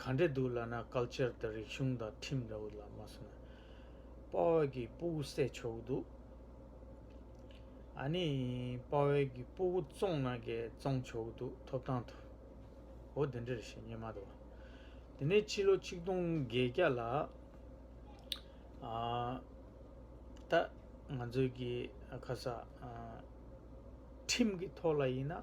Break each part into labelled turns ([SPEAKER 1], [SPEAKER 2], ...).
[SPEAKER 1] ག་འདྲ་འདུག་ལབ་ན Culture དང་རིག་གཞུང་དང་ཁྲིམས་འདྲ་བོ་ལབ་མ་སོང། དཔའ་བོད་ཀྱི་སྤུ་བོ་བསད་ཆོག་འདུག། ཨ་ནི་དཔའ་བོད་ཀྱི་སྤུ་བོ་བཙོང་ན་འགས་བཙོང་ཆོག་འདུག་ཐོབ་ཐང་དུ། འོ་དེ་འདྲར་བཤད་ཉན་མ་འདུག། དེ་ནས་ཕྱི་ལོ་ཆིག་སྟོང་བརྒྱད་བརྒྱ་ལ། ད་ང་ཚོའི་གི་ཁ་ས། ཁྲིམས་ཀྱི་ཐོག་ལ་ཡིན་ན།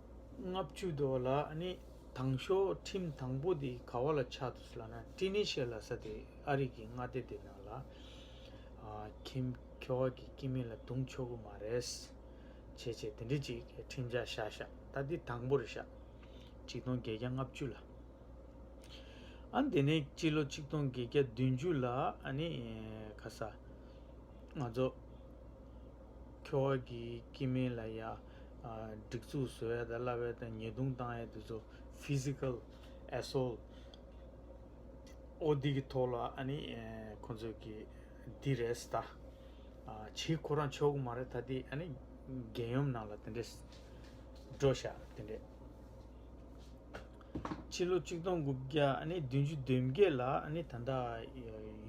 [SPEAKER 1] ལྔ་བཅུ་དོ་ལ་ནི་དང་ཤོག་ཁྲིམས་དང་པོ་དེ་ག་བ་ལ་ཆགས་ཐུབ་ལ་ན་ཀྲི་ནི་ཤེ་ལ་ས་དེ་ཨ་རིག་གི་མངའ་སྡེ་དེ་ནང་ལ་ཁིམ་ཁེ་བ་གི་ཀི་མི་ལ་དུང་ཆོ་གུ་མ་རེས་བྱེད་བྱེད་དེ་འདྲི་ཅིག་ཁྲིམས་ཆགས་ཤག་ཤག་ད་དེ་དང་པོ་རེ་ཤག་ཆིག་སྟོང་བརྒྱད་བརྒྱ་ལྔ་བཅུ་ལ་ཨ་དེ་ནས་སྤྱི་ལོ་ཆིག་སྟོང་བརྒྱད་བརྒྱ་བདུན་བཅུ་ལ་ནི་ག་ས་ང་ཚོ། ཁྱོ་བ་གིས་སྐྱེས་མིན་ལ་ཡ། སྒྲིག་འཛུགས་བཟོ་ཡ་དང་གླ་བའི་དང་ཉེས་རྡུང་བཏང་ཡ་དེ་ཚོ Physical Assault ཨོ་དེ་གི་ཐོག་ལ་ཨ་ནི་ཁོང་ཚོས་གི་དེ་རེད་སི་ད། བྱེད་ཁོ་རང་ཆོག་གི་མ་རེད་ད་དེ་ཨ་ནི་རྒྱལ་ཡོམ་ནང་ལ་དེ་འདྲས་འགྲོ་ཤག་དེ་འདྲས། ཕྱི་ལོ་གཅིག་སྟོང་དགུ་བརྒྱ་ཨ་ནི་བདུན་ཅུ་བདུན་བརྒྱད་ལ་ཨ་ནི་ད་ལྟ་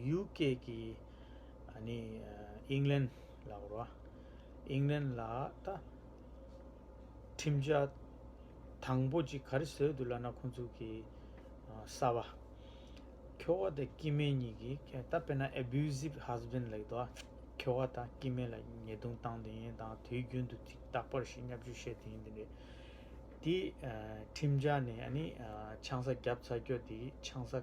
[SPEAKER 1] ཡུ་ཀེ་གི། ནི་ཨིང་ལན་ལ་བོར་བ། ཨིང་ལན་ལ་ད་ཁྲིམས་འཆར་དང་པོ་གཅིག་ག་རེ་བཟོས་འདུག་ལ་ན་ཁོང་ཚུགས་ཀྱི་གསར་བ། ཁྱོ་བ་དང་ཀི་མེན་གཉིས་ཀྱི་ད་དཔེར་ན abusive husband ལེགས་དོ་ཁྱོ་བ་དང་ཀི་མེན་ལ་ཉེས་རྡུང་བཏང་དེ་ཡིན་དང་དུས་རྒྱུན་དུ་ཐིག་རྟག་པར་ཞིག་སྙབ་རྒྱུ་བཤད་དེ་ཡིན་དེ་འདྲའི་ཁྲིམས་འཆར་ནི་ཨ་ནི་ཆང་ས་རྒྱབ་ཚར་ཁྱོ་དེའི་ཆང་ས།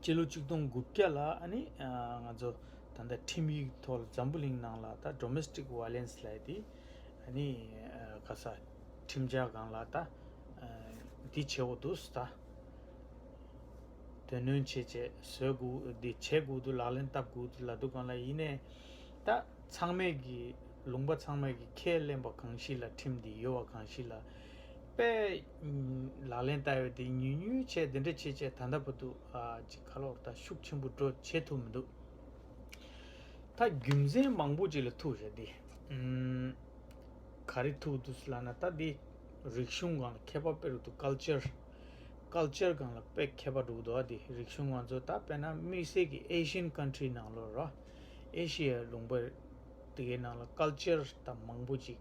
[SPEAKER 1] སྤྱི་ལོ་ཆིག་སྟོང་དགུ་བརྒྱ་ལ་ང་ཚོ་ད་ལྟ་ཁྲིམས་ཡིག་ཐོག་ལ་འཛམ་བུ་གླིང་ནང་ལ་ད Domestic Violence ལས་དེ་ག་ས་ཁྲིམས་འཆར་གང་ལ་ད་འདི་བྱེད་འོག་ཏུ་ད་དོན་སྣོན་བྱེད་བྱེད་བཟོད་དགོས་འདི་བྱེད་དགོས་འདུག་ལག་ལེན་བསྟབས་དགོས་འདུག་ལ་དུ་གང་ལ་ཡིན་ནས་ད་ཚང་མས་ཀྱི་ལུང་པ་ཚང་མས་ཀྱི་ཁས་ལེན་པ་གང་ཞིག་ལ་ཁྲིམས་འདི་ཡོད་བ་གང་ཞིག་ལ་དཔེ། ལག་ལེན་བསྟར་བའི་དེ་ཉུལ་ཉུལ་བྱས་དེ་འདྲ་བྱས་བྱས་ད་ལྟ་བུ་འདུག་ཅིག་ཁ་ལོར་ད་ཤུགས་ཆེན་པོ་འགྲོ་བྱེད་ཐུབ་མི་འདུག་ད་རྒྱུ་མཚན་མང་པོ་ཅིག་ལ་ཐུག་བྱས་ཏེ། ག་རེ་ཐུག་འདུག་ལ་ན་ད་དེ་རིག་གཞུང་གང་ལ་མཁས་པ་དཔེ་རུ་འདུག Culture Culture གང་ལ་དཔེ་མཁས་པ་འདུག་ད་དེ་རིག་གཞུང་ང་ཚོ་ད་དཔེ་ན་དམིགས་བསལ་གྱི Asian Country ནང་ལོར་རོ། ཨེ་ཤི་ཡའི་ལུང་པར་དེ་གའི་ནང་ལ Culture ད་མང་པོ་ཅིག་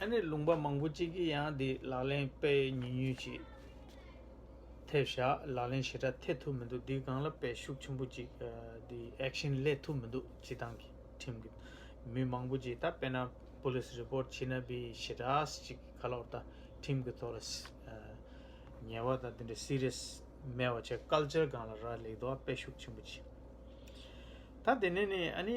[SPEAKER 1] ཨ་ནེ་ལུང་པ་མང་པོ་གཅིག་གིས་ཡང་འདི་ལག་ལེན་སྤེལ་ཉུས་ཉུས་ཅིག་ཐེབས་བཞག་ལག་ལེན་ཞེ་དྲག་ཐེབས་ཐུབ་མི་འདུག་འདི་སྒང་ལ་དཔེ་ཤུགས་ཆེན་པོ་གཅིག་འདི action སླེབས་ཐུབ་མི་འདུག་སྤྱི་བཏང་གི་ཁྲིམས་ཀྱི་མི་མང་པོ་གཅིག་ད་དཔེ་ན police report བྱིན་ན་བི་ཞེ་དྲག་གཅིག་ག་ལོག་ད་ཁྲིམས་ཀྱི་ཐོག་ལ་ཉེས་བ་དང་འདི་འདྲ serious མེད་བ་བྱས culture སྒང་ལ་རག་ལས་འདུག་དཔེ་ཤུགས་ཆེན་པོ་གཅིག་ད་དེ་ནས་ནི་ཨ་ནེ་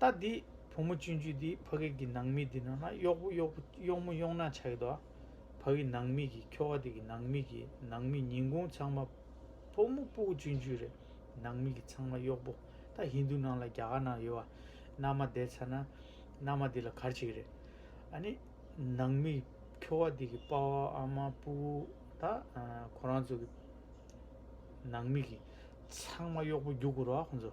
[SPEAKER 1] ལྟ་འདི། བུ་མོ་སྤྱོད་འཇུག་འདི་ཕ་གིར་གྱི་ནང་མིག་འདི་ནང་ན་གཡོག་པོ་གཡོག་པོ་གཡོག་མོ་གཡོག་ནག་ཆགས་དོ། ཕ་གི་ནང་མིག་གིས་ཁྱོ་བ་དེ་གི་ནང་མིག་གིས་ནང་མིག་ཉིན་གུང་ཚང་མ། བུ་མོ་སྤུ་གུ་སྤྱོད་འཇུག་རེ་ནང་མིག་གིས་ཚང་མ་གཡོག་པོ་ད་ཧིན་དུ་ནང་ལ་རྒྱ་གར་ནང་ཡོད་བ། མནའ་མ་བསྡད་ཚར་ན་མནའ་མ་དེ་ལ་གར་བྱེད་རེ། ཨ་ནི། ནང་མིག་ཁྱོ་བ་དེ་གི་དཔའ་བ་ཨ་མ་སྤུ་གུ་ད་ཁོ་རང་ཚོ་གི། ནང་མིག་གིས་ཚང་མ་གཡོག་པོ་རྒྱུག་དགོས་རོགས་ཨ་ཁོང་ཚོ།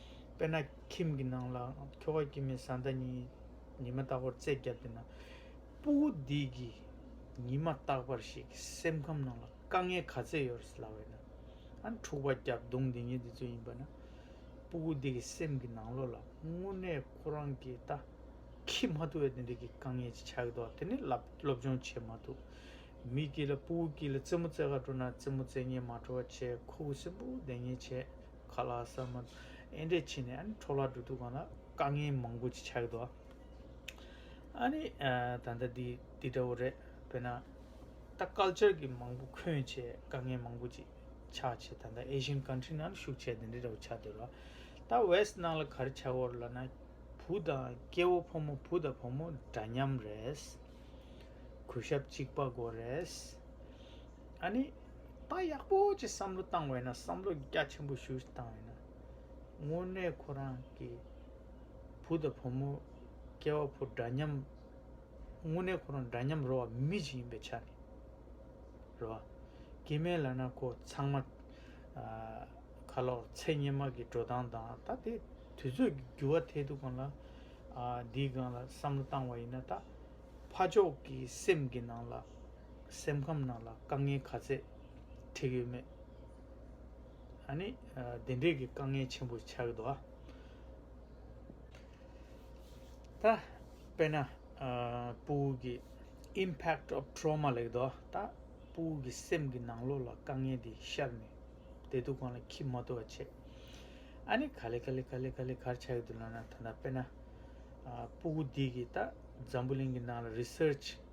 [SPEAKER 1] དཔེར་ན་ཁྱིམ་གྱི་ནང་ལ་ཁྱོ་ག་སྐྱེས་མའི་བཟའ་ཟླ་གཉིས་ཉི་མ་རྟག་པར་རྩེད་བརྒྱབ་སྟེ་ན་སྤུ་བོ་འདི་གིས་ཉི་མ་རྟག་པར་ཞིག་སེམས་ཁམས་ནང་ལ་དཀའ་ངལ་ག་ཚད་ཡོད་རེད་ལབ་བས་ན་ཨ་འཁྲུག་པ་བརྒྱབ་བརྡུང་འདི་ཉིད་འདི་ཚོ་ཡིན་པ་ན་སྤུ་བོ་འདི་གི་སེམས་ཀྱི་ནང་ལོགས་ལ་དངོས་གནས་ཁོ་རང་གི་ལྟ་ཁྱི་མ་ཐུབ་བས་དེ་འདྲ་གི་དཀའ་ངལ་ཅིག་ཆགས་ཀྱི་འདུག་དེ་ནི་སློབ་སྦྱོང་བྱེད་མ་ཐུབ་མི་དགྱིས་ལ་སྤུ་བོ་དགྱིས་ལ་རྩེད་མོ་རྩེ་ག་འགྲོ་ན་རྩེད་མོ་རྩེ་ཉེན་མ་འགྲོ་བ་བྱས་ཁོ་བོ་སེམས་བུ་བདེ་ཉེན་ཆེ་ཁ་ལག་ཟ་མ་ཨེ་འདྲས་ཕྱིན་ནས་ཨ་ནི་འཕྲོ་བརླག་འགྲོ་དུས་གང་ལ་དཀའ་ངལ་མང་པོ་ཅིག་ཆགས་ཡོད་དོ། ཨ་ནི་ད་ལྟ་འདི་འདི་འདྲ་བོ་རེད་བོད་ན་ད་སྐལ་ཆར་གྱི་མང་པོ་འཁོན་བྱས་དཀའ་ངལ་མང་པོ་ཅིག་ཆགས་བྱས་ད་ལྟ Asian country ནང་ལ་ཤུགས་ཆེ་དེ་འདྲ་འདྲ་བོ་ཆགས་འདུག་ལ་ད West ནང་ལ་གར་ཆགས་བོར་ལ་ན་བུ་དང་སྐྱེ་བོ་ཕོ་མོ་བུ་དང་བུ་མོ་འདྲ་མཉམ་རེད། གུས་ཞབས་གཅིག་པ་དགོས་རེད། ཨ་ནི། ད་ཡག་པོ་ཆེ་བསམ་བློ་བཏང་བས་ན་བསམ་བློ་རྒྱ་ཆེན་པོ་ཞུ་བཏང་བས་ན་དངོས་གནས་ཁོ་རང་གི་བུ་དང་བུ་མོ་སྐྱེ་བ་ཕོ་འདྲ་མཉམ་དངོས་གནས་ཁོ་རང་འདྲ་མཉམ་རོ་མི་ཞིག་ཡིན་པའི་ཆ་ནས་རེད་བ་དགེ་མེད་ལ་ན་ཁོ་ཚང་མ་ཁ་ལོ་ཚད་སྙེ་མ་གི་འགྲོ་སྟངས་དང་ད་དེ་དུས་ཚོད་ཀྱི་འགྱུར་བ་ཐད་དུ་གང་ལ་འདིའི་སྒང་ལ་བསམ་བློ་བཏང་བ་ཡིན་ན་ད་ཕ་ཕྱོགས་ཀྱི་སེམས་ཀྱི་ནང་ལ་སེམས་ཁམས་ནང་ལ་དཀའ་ངལ་ག་ཚད་འཕྲད་ཡོད་མེད། ད་ནི་དེ་འདྲའི་གི་དཀའ་ངལ་ཆེན་པོ་ཆགས་འདུག་ཨ། ད་དཔེར་ན་པུའུ་གི Impact of Trauma ལེགས་འདུག་ཨ། ད་པུའུ་གི་སེམས་ཀྱི་ནང་ལོགས་ལ་དཀའ་ངལ་འདི་ཤར་ནས་བདེ་སྡུག་གང་ལ་འཁྱིལ་མ་ཐུབ་པ་བྱེད། ཨ་ནི་ག་ལེ་ག་ལེ་ག་ལེ་ག་ལེ་གར་ཆགས་ཡོད་འདུག་ལབ་ན་ད་དཔེར་ན་པུའུ་འདི་གིས་ད་འཛམ་བུ་གླིང་གི་ནང་ལ Research།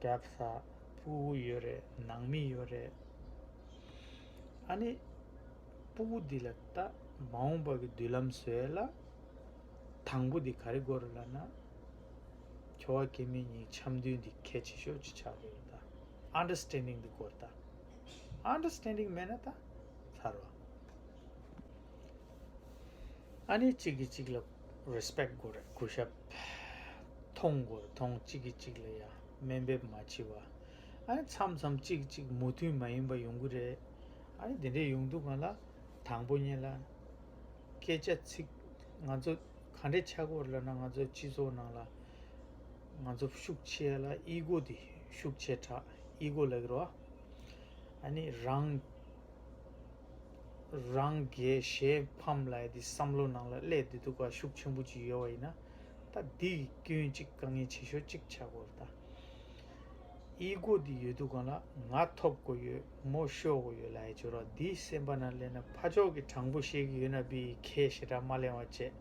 [SPEAKER 1] བྲག་ས་སྤུ་བོ་ཡོད་རེད་ནང་མི་ཡོད་རེད། ཨ་ནི། སྤུ་བོ་འདི་ལ་ལྟ་མ་འོངས་པ་གི་མདུན་ལམ་བཟོས་ལ། དང་པོ་འདི་ག་རེ་དགོས་རེད་ལ་ན། ཁྱོ་བ་ཀེ་མི་གཉིས་འཆམ་མཐུན་འདི་གལ་ཆེ་ཤོས་ཅིག་ཆགས་དགོས་རེད་ད། Understanding འདི་དགོས་རེད་ད། Understanding མེད་ན་ད་ཚར་བ། ཨ་ནི་གཅིག་གིས་གཅིག་ལ Respect དགོས་རེད་གུས་ཞབས། མཐོང་དགོས་མཐོང་གཅིག་གིས་གཅིག་ལ་ཡང་སྨན་འབེབས་མ་བྱེད་པ། ཨ་རེ་མཚམས་མཚམས་གཅིག་གིས་གཅིག་མུ་མཐུད་མ་ཡིན་པ་ཡོང་གི་རེད། ཨ་རེ་དེ་འདྲས་ཡོང་དུས་གང་ལ་དང་པོ་ཉེ་ལ། སྐད་ཆ་ཚིག་ང་ཚོ་ག་འདྲས་ཆགས་གོ་རེ་ལབ་ན་ང་ཚོ་སྤྱི་ཚོགས་ནང་ལ་ང་ཚོ་ཤུགས་ཆེ་ཡ་ལ་ཨི་གོ་དེ་ཤུགས་ཆེ་དྲགས་ཨི་གོ་ལ་གི་རོ། ཨ་ནི་རང། རང་དགེ་ཞེས་ཕམ་ལ་ཡི་དེ་བསམ་བློ་ནང་ལ་ཀླད་བདེ་སྡུག་ཁ་ཤུགས་ཆེན་པོ་ཅིག་ཡོད་བ་ཡིན་ན་ད་འདི་ཡི་སྐྱོན་གཅིག་དཀའ་ངལ་ཆེ་ཤོས་གཅིག་ཆགས་དགོས་རེད་ད་ཡི་གོ་འདི་ཡོད་དུ་གང་ལ་ང་ཐོབ་དགོས་ཡོད་མོ་ཤོ་དགོས་ཡོད་ལ་ཡི་ཇོ་ར་འདི་སེམས་པ་ན་གླན་ན་ཕ་ཕྱོགས་ཀྱི་དྲང་པོ་ཤེས་ཀྱི་ཡོད་ན་བི་ཡི་ཁའི་ཞེ་དྲག་མ་གླན་བ་བཅས་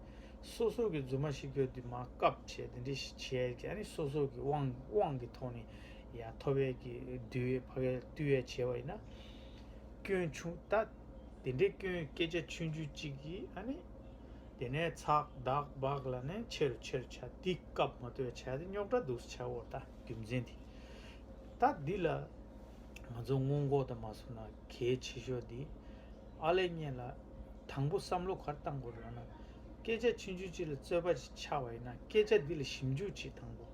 [SPEAKER 1] སོ་སོ་གི་རྫུན་མ་ཤི་གོ་འདི་མ་སྐབས་བྱས་འདི་འདྲི་བྱས་ཀྱི་ཨ་ནི་སོ་སོ་གི་དབང་གི་ཐོག་ནས་ཡ་ཐོབ་ཡས་ཀྱི་འདུལ་བས་ཕ་གས་བཏུལ་ཡས་བྱས་བ་ཡིན་ན། སྐྱོན་ཆུང་ལྟ། དེ་འདྲའི་སྐྱོན་སྐད་ཆ་ཆུང་ཆུང་གཅིག་གིས་ཨ་ནི། དེ་ནས་ཚག་དག་སྦག་ལ་ནི་ཆེ་རུ་ཆེ་རུ་བྱ། དེ་སྐབས་མ་ལྟོས་བྱ་དེ་རྙོག་དྲ་འདུག་ས་བྱ་འོ་ད་རྒྱུ་མཚན་དེ། ད་འདི་ལ། ང་ཚོ་སྔོན་འགོག་དང་མ་བཟོ་ན་གལ་ཆེ་ཤོས་འདི། ཨ་ལས་རྙེད་ལ། དང་པོ་བསམ་བློ་གར་བཏང་དགོས་རོགས་ན། སྐད་ཆ་ཆུང་ཆུང་གཅིག་ལ་རྩོད་པ་ཞིག་ཆགས་པ་ཡིན་ན་སྐད་ཆ་འདི་ལ་ཞིབ་འཇུག་བྱེད་དང་པོ།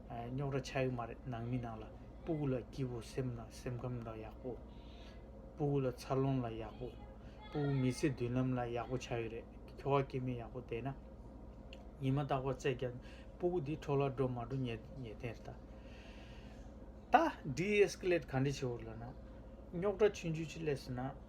[SPEAKER 1] རྙོག་དྲ་ཆགས་ཡོད་མ་རེད་ནང་མི་ནང་ལ་སྤུ་གུ་ལ་སྐྱིད་པོ་སེམས་ལ་སེམས་ཁམས་ལ་ཡག་པོ། སྤུ་གུ་ལ་འཚར་ལོངས་ལ་ཡག་པོ། སྤུ་གུ་མི་ཚེ་མདུན་ལམ་ལ་ཡག་པོ་ཆགས་ཡོད་རེད་ཁྱོ་བ་སྐྱེ་མི་ཡག་པོ་བསྡད་ན། ཉི་མ་རྟག་པ་བརྩེགས་ཀྱང་སྤུ་གུ་འདི་འཕྲོ་བརླག་འགྲོ་མ་འགྲོ་ཉེས་ཉེས་དེ་རེད་ད། ད། Deescalate ག་འདྲས་བྱེད་འོ་ལ་ན། རྙོག་དྲ་ཆུང་ཆུང་ཆེ་ལས་སོ་ན།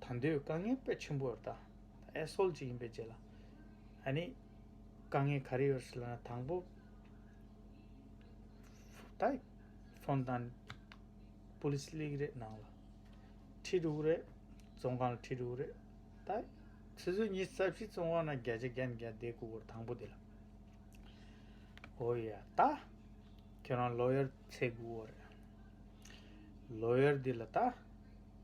[SPEAKER 1] ད་འདོད་དཀའ་ངལ་དཔེ་ཆེན་པོ་རེད་ད། ཨེ་སོལ་ཅིག་ཡིན་པའི་རྗེས་ལ། ཨ་ནི། དཀའ་ངལ་ག་རེ་ཡོད་ཟེར་ལ་ན་དང་པོ། ད། ཚོང་དང། Police League རེད་ནང་ལ། ཁྲི་དྲུག་རེད། ཙོང་ཁང་ལ་ཁྲི་དྲུག་རེད། ད། ཆུ་ཚོད་གཉིས་རྩ་བཞི་ཙོང་ཁང་ན་བརྒྱ་ཆ་བརྒྱ་ནས་བརྒྱ་བསྡད་སྐུ་གོར་དང་པོ་དེ་ལ། ཨོ་ཡ། ད། ཁྱོད་རང་ལོ་ཡར་ཚེ་དགུ་བོ་རེད། ལོ་ཡར་འདི་ལ་ད།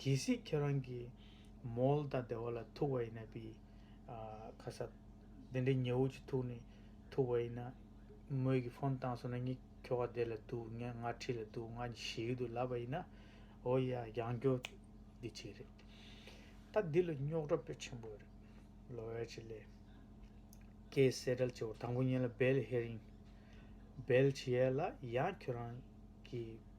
[SPEAKER 1] གལ་སྲིད་ཁྱེད་རང་གིས་མོལ་དང་བདེ་བ་ལ་ཐུག་པ་ཡིན་ན་བི་ཁ་ས། དེ་འདྲའི་ཉེ་བོ་ཅིག་ཐུག་ནས་ཐུག་པ་ཡིན་ན། མོས་ཀྱིས་ཕོན་བཏང་སོང་ན་ངས་ཁྱོ་ག་བདེ་ལ་འདུག་ངས་ང་འཁྲིས་ལ་འདུག་ང་གཉིས་ཞི་གི་འདུག་ལབ་པ་ཡིན་ན། འོ་ཡ་ཡང་སྐྱོ། འདི་གཅིག་རེད། ད་འདི་ལ་རྙོག་དྲ་པོད་ཆེན་པོ་རེད། ལོ་ཝེར་ཅི་ལེ། ཀྱེ་གསལ་བྲལ་བྱེད་པོ་དང་པོ་ཉིད་ལ་བེལ་ཧེ་རིང། བེལ་ཇི་ཡེ་ལ་ཡང་ཁྱོད་རང་གིས་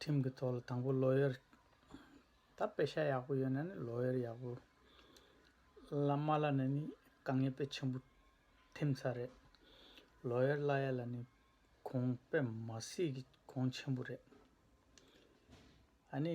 [SPEAKER 1] ཁྲིམས་ཀྱི་ཐོག་ལ་དང་པོ་ལོ་ཡར་ད་དཔེ་ཆ་ཡག་པོ་ཡོད་ན་ནི་ལོ་ཡར་ཡག་པོ་བླ་མ་ལ་ནི་ནི་དཀའ་ངལ་དཔེ་ཆེན་པོ་ཐེམ་ཚ་རེད་ལོ་ཡར་བླ་ཡར་ལ་ནི་གོང་དཔེ་མ་སྲིད་ཀྱི་གོང་ཆེན་པོ་རེད་ཨཱ་ནི་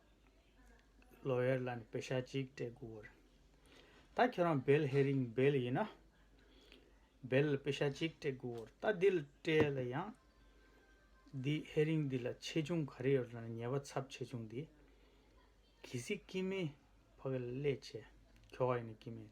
[SPEAKER 1] ལོ་དབྱར་ལ་ནི་བེ་ཤ་གཅིག་སྤྲད་དགུ་བར། ད་ཁྱོད་རང་བེལ་ཧེ་རིང་བེལ་ཡིན་ན། བེལ་ལ་བེ་ཤ་གཅིག་སྤྲད་དགུ་བར་ད་འདི་ལ་སྤྲད་ལ་ཡང། འདི་ཧེ་རིང་འདི་ལ་ཆེ་ཆུང་ག་རེ་ཡོད་ན་ཉེས་པ་ཚབས་ཆེ་ཆུང་འདི། གལ་སྲིད་ཀི་མེད་ཕ་གི་ལས་བྱས་ཁྱོ་ག་ཡིན་ན་ཀི་མེད།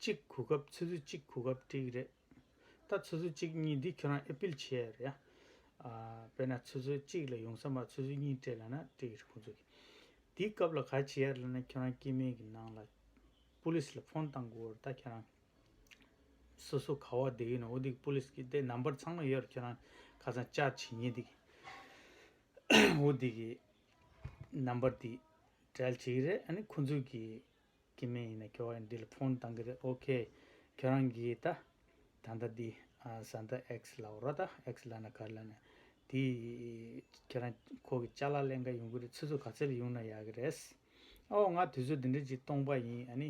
[SPEAKER 1] གཅིག་གོ་སྐབས་ཚོད་ཚོད་གཅིག་གོ་སྐབས་ཏྲིག་རེད། ད་ཚོད་ཚོད་གཅིག་གཉིས་འདི་ཁྱོད་རང་ཨེ་ཕིལ་བྱས་ཡ་རེད་ཡ། དཔེར་ན་ཚོད་ཚོད་གཅིག་ལ་ཡོང་ས་མ་ཚོད་ཚོད་གཉིས་སྤྲད་ལ་ན་ཏྲིག་རེད་ཁོང་ཚོ་གི། འདི་སྐབས་ལ་ག་བྱས་ཡ་རེད་ལ་ན་ཁྱོད་རང་སྐྱེས་དམན་གི་ནང་ལ Police ལ Phone བཏང་གོ་རེད་ད་ཁྱོད་རང་སོ་སོ་ག་བ་བསྡད་ཡོད་ན་འོ་འདི་གི Police གི་དེ Number ཚང་མ་ཡོད་རེད་ཁྱོད་རང་ཁ་སང་བཅར་བྱས་ཉེས་འདི་གི་འོ་འདི་གི Number འདི་བྲལ་བྱས་ཡོད་རེད་ཨ་ནི་ཁོང་ཚོ་གི། ཀྱི་མིན་ཡིན་ན་ཁྱོ་ཨེ་འདི་ལ་ཕོན་གཏང་གི་རེད ok ཁྱོད་རང་གིས་ད་ད་ལྟ་འདི་བཟའ་ཟླ X ལ་འོ་རོགས་ད X ལ་ན་ག་ལ་ན་དེ་ཁྱོད་རང་ཁོ་གི་ལྕགས་ལ་ལན་འགའ་ཡོང་གི་རེད་ཚོད་ཚོད་ག་ཚད་ཡོང་ན་ཡག་གི་རེད་ཨོ་ང་དུས་ཚོད་འདི་འདྲའི་གཅིག་གཏོང་པ་ཡིན་ཨ་ནི་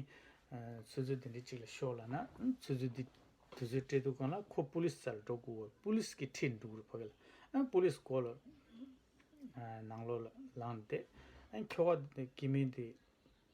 [SPEAKER 1] ཚོད་ཚོད་འདི་འདྲའི་གཅིག་ལ་ཤོག་ལ་ན་ཚོད་ཚོད་འདི་དུས་ཚོད་སྤྲད་འདུག་གང་ལ་ཁོ Police རྩ་ལ་འགྲོ་དགོས་བ Police གི་ཁྲིད་འདུག་རུ་ཕ་གི་ལ་ཨ Police སྒོ་ལ་ནང་ལོགས་ལ་ལངས་ཏེ་ཨ་ཁྱོ་ཨ་འདི་ཀྱི་མིན་འདི།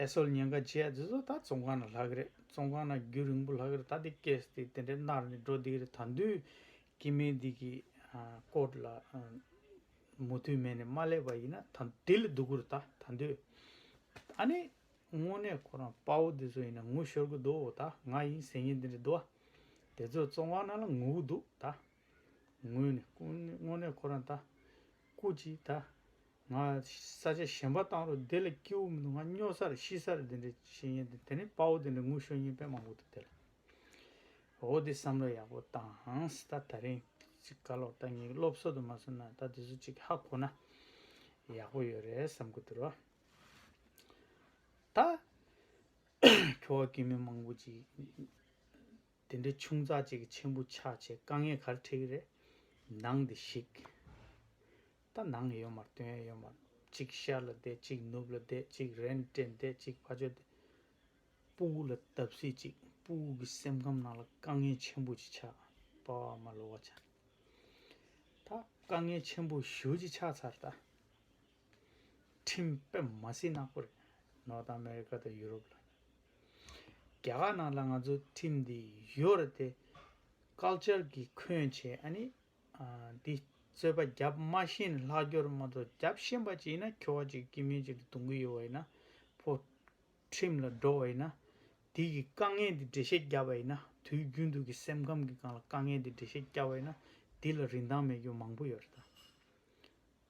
[SPEAKER 1] ཨེ་སོལ་ཉེན་ཁ་ཆེ་ཨ་ཇི་སོ་ད་བཙོང་ཁང་ན་ལྷག་གི་རེད་བཙོང་ཁང་ན་རྒྱུ་རིང་པོ་ལྷག་གི་རེད་ད་དེ་སྐད་སྟེ་དེ་འདྲའི་མནར་ནས་འགྲོ་བསྡད་གི་རེད་ད་འདུས་ཀྱི་མེད་འདི་གི་སྐོར་ལ་མུ་མཐུད་མེད་ནས་མ་སླེབས་པ་ཡིན་ན་ད་དེ་ལ་སྡུག་གི་རེད་ད་ད་འདུས་ཨ་ནི་དངོས་གནས་ཁོ་རང་དཔའ་བོ་དེ་ཚོ་ཡིན་ན་ངུ་ཤོར་གི་འདུག་ད་ང་ཡིན་ཟེར་ཉིན་དེ་འདྲ་འདུག་ཨ་དེ་ཚོས་བཙོང་ཁང་ན་ལ་ངུ་གི་འདུག་ད། ངོས་ནས་དངོས་གནས་ཁོ་རང་ད་སྐུ་ཅིག་ད། ང་ས་ཆ་གཞན་པ་བཏང་རོགས་དེ་ལ་སྐྱིད་བོ་མི་འདུག་ང་སྨྱོ་སར་ཤི་སར་དེ་འདྲ་བྱེད་ཡིན་དེ་ནི་དཔའ་བོ་དེ་འདྲ་ངུ་ཤོར་ཉེས་པས་མ་འགུགས་ཐུབ་དེ་ལ། འོ་དེ་བསམ་བློ་ཡག་པོ་བཏང་ད་ད་རིང་གཅིག་བཀའ་ལོག་ད་ངེད་སློབ་གསོ་དུ་མ་སོང་ན་ད་དེ་ཚོ་གཅིག་ཧ་གོ་ན་ཡག་པོ་ཡོད་རེད་བསམ་གི་འདུག་རོགས། ད། ཁྱོ་བ་སྐྱིད་མི་མང་པོ་ཅིག། དེ་འདྲའི་ཆུང་ཙག་ཅིག་གི་མཆན་བུ་ཆགས་ཆེ་དཀའ་ངས་གར་ཁྲིག་རེད་ནང་འདི་ཞིག་ད་ནང་ཡོད་མར་དོན་ཡོད་མར་གཅིག་ཤར་ལ་བསྡད་གཅིག་ནུབ་ལ་བསྡད་གཅིག་རན་ཏྲེ་བསྡད་གཅིག་ཕ་ཇོ་བསྡད་པུའུ་ལ་བརྡབ་སྲིད་ཅིག་པུའུ་གི་སེམས་ཁམས་ནང་ལ་དཀའ་ངའི་མཆན་བུ་ཅིག་ཆགས་པ་བ་མ་ལོ་བ་ཆ་ད་དཀའ་ངའི་མཆན་བུ་བཞུ་ཅིག་ཆགས་ཚར་ད་ཁྲིམས་དཔེ་མ་སྲིད་ནག་པོ་རེད་ནོར་ད་ཨ་མེ་རི་ཀ་ད་ཡུ་རོབ་ལ། རྒྱ་གར་ནང་ལ་ང་ཚོ་ཁྲིམས་འདི་ཡོད་རེད་དེ། Culture གི་ཁོན་བྱས་ཨ་ནི། འདི་རྩོད་པ་རྒྱབ་མ་ཤེས་ནས་ལྷག་སྐྱོར་མ་གཏོགས་རྒྱབ་ཤེས་པ་ཅིག་ཡིན་ན་ཁྱོ་བ་ཅིག་གིས་མི་ཅིག་གདུང་གི་ཡོད་བ་ཡིན་ན། ཕོ། ཁྲིམས་ལ་འགྲོ་བ་ཡིན་ན། དེ་གི་དཀའ་ངལ་འདི་འགྲེལ་བཤད་རྒྱབ་པ་ཡིན་ན་དུས་རྒྱུན་དུ་གི་སེམས་ཁམས་ཀི་སྒང་ལ་དཀའ་ངལ་འདི་འགྲེལ་བཤད་རྒྱབ་པ་ཡིན་ན། འདི་ལ་རིན་ཐང་མེད་རྒྱུ་མང་པོ་ཡོད་རེད་ད།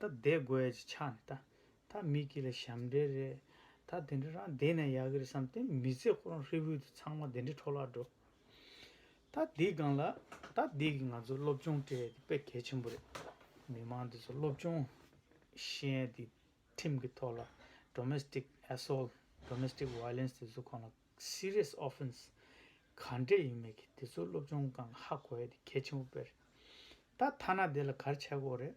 [SPEAKER 1] ད་བསྡད་དགོས་ཡ་ཅིག་ཆགས་ནས་ད་ད་མི་སྐྱིད་ལ་ཞབས་འདྲེན་རེད་ད་དེ་འདྲ་རང་བསྡད་ན་ཡག་གི་རེད་བསམ་དེ་མི་ཚེ་ཁོ་རང་ཧྲིལ་བོའི་དུས་ཚང་མ་དེ་འདྲའི་འཕྲོ་བརླག་འགྲོ་ད་འདི་སྒང་ལ་ད་འདི་གི་ང་ཚོ་སློབ་སྦྱོང་སྤྲད་དེ་དཔེ་གལ་ཆེན་པོ་རེད་མི་མང་འདི་ཚོ་སློབ་སྦྱོང་ཤེས་ཡན་དེ་ཁྲིམས་ཀྱི་ཐོག་ལ Domestic Assault Domestic Violence དེ་ཚོ་ཁོ་ན Serious Offence ག་འདྲས་ཡིན་མེད་གི་དེ་ཚོ་སློབ་སྦྱོང་གང་ཧ་གོ་ཡ་དེ་གལ་ཆེན་པོ་དཔེ་རེད་ད་ཐ་ན་དེ་ལ་གར་ཆགས་དགོས་རེད།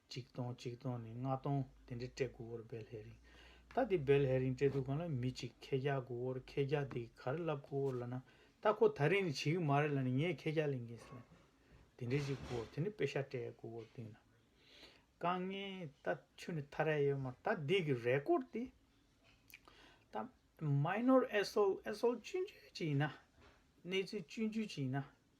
[SPEAKER 1] གཅིག་སྟོང་གཅིག་སྟོང་ནས་ལྔ་སྟོང་དེ་འདྲའི་སྤྲད་དགུ་བོར་བེལ་ཧེ་རིང། ད་དེ་བེལ་ཧེ་རིང་སྤྲད་དུ་གང་ལ་མི་གཅིག་ཁེ་རྒྱག་དགུ་བོར་ཁེ་རྒྱག་དེ་གི་ག་རེ་ལབ་དགུ་བོར་ལ་ན་ད་ཁོ་ད་རིང་ནས་བྱེད་གི་མ་རེད་ལ་ནི་ངས་ཁེ་རྒྱག་ལེན་གིན་སོང། དེ་འདྲའི་གཅིག་དགུ་བོར་དེ་འདྲའི་དཔེ་ཤ་སྤྲད་དགུ་བོར་དེ་ན། དཀའ་ངལ་ད་ཆུ་ནི་ཐ་རལ་ཡོད་མ་ད་འདི་གི་རེ་སྐོར་དེ། ད Minor Assault Assault སྤྱོད་འཇུས་ཅིག་ཡིན་ན། གནས་ཚུལ་སྤྱོད་འཇུས་ཅིག་ཡིན་ན།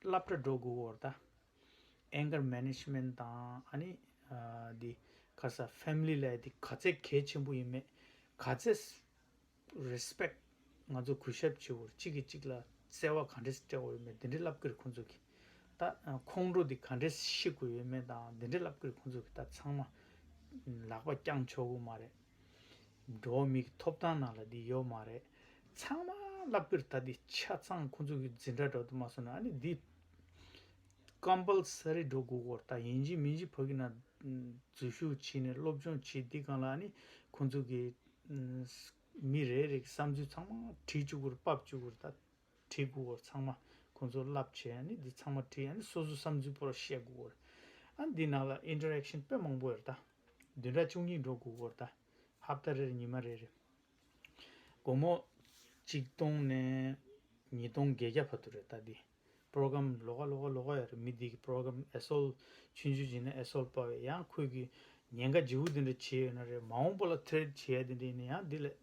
[SPEAKER 1] བསླབ་གྲྭ་འགྲོ་དགོས་བོར་ད། Anger Management དང་ཨ་ནི། འདི། ཁ་ས Family ལས་འདི་ག་ཚད་གལ་ཆེན་པོ་ཡིན་མེད། ག་ཚད། Respect། ང་ཚོ་གུས་ཞབས་བྱེད་བོར་གཅིག་གིས་གཅིག་ལ་བརྩེ་བ་ག་འདྲེ་སྤྲད་འོ་ཡོད་མེད་འདི་འདྲེ་བསླབ་གིར་ཁོང་ཚོ་གི། ད། ཁོང་ཁྲོ་འདི་ག་འདྲེ་ཤི་དགོས་ཡོད་མེད་དང་འདི་འདྲེ་བསླབ་གིར་ཁོང་ཚོ་གི་ད་ཚང་མ། ལག་པ་བརྐྱངས་ཆོག་གི་མ་རེད། འགྲོ་བ་མི་གི་ཐོབ་ཐང་ནང་ལ་འདི་ཡོད་མ་རེད། ཚང་མ་བསླབ་རྒྱུར་ད་འདི་ཆ་ཚང་ཁོང་ཚོ་གི་འཛིན་གྲྭ་འགྲོ་དུ་མ་སོང་ན་ཨ་ནི་འདི། Compulsory འགྲོ་དགོས་སྐོར་ད་ཡིན་གཅིག་མིན་གཅིག་ཕ་གི་ན་འཛུལ་ཞུགས་བྱེད་ནས་སློབ་སྦྱོང་བྱེད་འདི་གང་ལ་ཨ་ནི་ཁོང་ཚོ་གི། མི་རེ་རེ་གི་བསམ་ཚུལ་ཚང་མ་བྲིས་བཅུག་གུར་དཔབ་བཅུག་གུར་ད། བྲིས་དགོས་བར་ཚང་མ་ཁོང་ཚོར་བསླབ་བྱས་ཡ་ནི་འདི་ཚང་མ་བྲིས་ཡ་ནི་སོ་སོ་བསམ་ཚུལ་པོ་ར་བཤད་དགོས་བར་ཨ་འདི་ནང་ལ Interaction དཔེ་མང་པོ་ཡོ་ར་ད་བདུན་ཕྲག་བཅུ་གཉིས་འགྲོ་དགོས་བར་ད་ཧབ་ད་རེར་ཉི་མ་རེ་རེ་དགོང་མོ་གཅིག་སྟོང་ནས་ཉིས་སྟོང་བརྒྱད་བརྒྱ་བར་དུ་རེ་ད་འདི Program ལོ་ག་ལོ་ག་ལོ་ག་ཡ་རེ་མི་འདི་གི Program ཨེ་སོལ་ཆུན་ཆུན་བྱས་ན་ཨེ་སོལ་པ་བས་ཡང་ཁོས་གི་ཉེན་ཁ་ཇི་བོ་འདི་འདྲ་བྱས་ཡོ་ན་རེ་མ་འོང་པོ་ལ Thread བྱས་ཡ་འདི་འདྲ་ཡིན་ན་ཡང་འདི་ལས།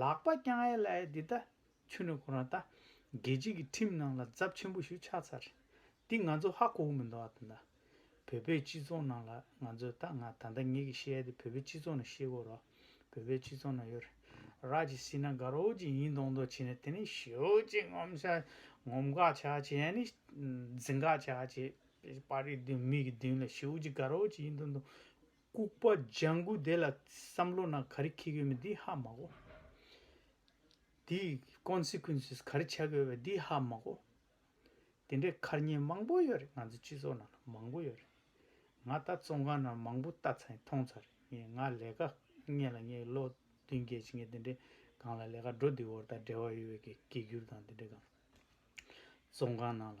[SPEAKER 1] ལག་པ་བརྐྱང་ཨའི་ལ་ཨའི་འདི་ད། ཆུ་ནི་གོ་རང་ད། རྒྱལ་སྤྱི་གི་ཁྲིམས་ནང་ལ་རྫབ་ཆེན་པོ་ཞུ་ཆགས་ཚར། འདི་ང་ཚོ་ཧ་གོ་གི་མི་འདུག་ཨ་ད་ད། བོད་པའི་སྤྱི་ཚོགས་ནང་ལ་ང་ཚོས་ད་ང་ད་ད་ངེད་ཀྱི་བཤད་དེ་བོད་པའི་སྤྱི་ཚོགས་ནང་བཤད་དགོས་རོགས། བོད་པའི་སྤྱི་ཚོགས་ནང་ཡོད་རགས་ཀྱི་སྲིད་ན་དགའ་རོགས་ཀྱི་ཡིན་མདོག་མདོག་བྱེད་ནས་དེ་ནས་ཞོ་ཅིག་ངོམ་ཤ་ངོམ་དགའ་ཆགས་བྱེད་ཡ་ནི་འཛིན་དགའ་ཆགས་བྱེད། པར་རིས་བདུན་མིག་གི་མདུན་ལ་ཞོ་ཅིག་དགའ་རོགས་ཀྱི་ཡིན་མདོག་མདོག། ལྐུགས་པ་ལྗང་གུ་དེ་ལ་བསམ་བློ་ན་ག་རེ་ཁེག་ཡོད་མེད་འདི་ཧ་མ་གོ། དེའི Consequences ག་རེ་ཆགས་ཀྱི་ཡོད་པ་འདི་ཧ་མ་གོ། དེ་འདྲའི་མཁར་རྙིང་མང་པོ་ཡོད་རེད་ང་ཚོའི་སྤྱི་ཚོགས་ནང་ལ་མང་པོ་ཡོད་རེད། ང་ལྟ་ཙོང་ཁང་ནང་མང་པོ་བལྟ་ཚར་ཡིན་མཐོང་ཚར་ཡིན་ང་ལས་ཀ་གཉེར་ལ་ངའི་ལོ་བདུན་བརྒྱད་ཅིག་ངས་དེ་འདྲའི་སྒང་ལ་ལས་ཀ་འགྲོ་འདི་བོར་དང་འབྲེལ་བ་ཡོད་པའི་གེགས་གེགས་གྱུར་དང་དེ་འདྲའི་སྒང། ཙོང་ཁང་ནང་ལ།